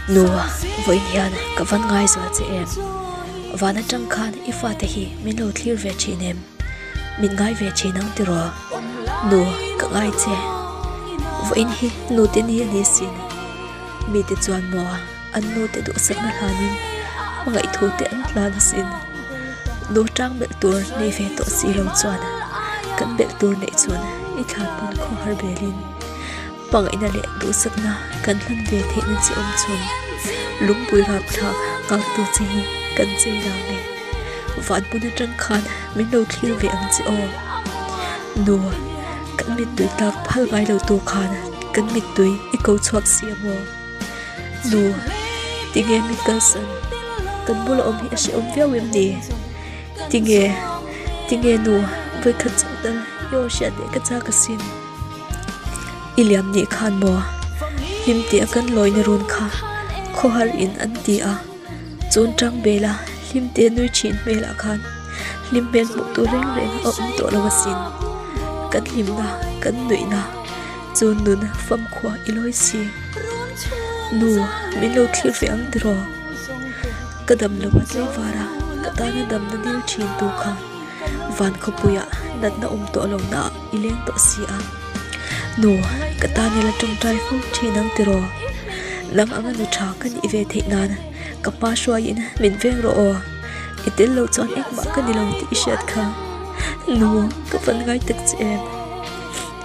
Nua, vawiin hian ka van ngaizua che em? Van atang khan i fate hi min lo thlir ve thin em? Min ngai ve thin ang tiraw? Nu, ka ngai che. Vawiin hi nute ni a ni si. Mite chuan maw? an nu te duhsakna hlanin hmangaih thu te an tlan asin nu tang belh tur nei ve tawh si lo chuan kan belh tur nei chuan i thlan pawm kho har ber in hmangaihna leh duhsakna kan hlan ve theih na chi awm chung lungpui rap thla ngak tu che hi kan chei lo nge van hmun atang khan min lo thlir ve ang che aw nu kan mittui tlak phal ngai lo tur khan kan mittui i ko chhuak si a maw. Nuh, tinge mi kal san kan bula awm hi a hre awm viau em ni? Tinge, tinge nu voikhat chauh tal i aw hriat leh ka chak asin? I liam ni khan maw? Hlim teh a kan lawina run kha khawhar in an ti a, chun tang bela hlim te nui thin hmel ah khan hlim hmel hmuh tur reng reng a awm tawh lo asin. Kan hlimna, kan nuihna. Chu nun fam khua i lawi si. Nu, min lo thlir ve ang tiraw? Ka dam lo a tleivara ka tana dam na dil thin tur kha van khawpui ah natna awm tawh lo na ah i leng tawh si a. Nu, ka tan ila tawngtai fo thin ang tiraw? Nang anga nu tha ka nih ve theih nan ka hma hruai in min veng rawh aw. I tel lo chuan engmah ka ni lo tih i hriat kha. Nu, ka van ngai tak che em.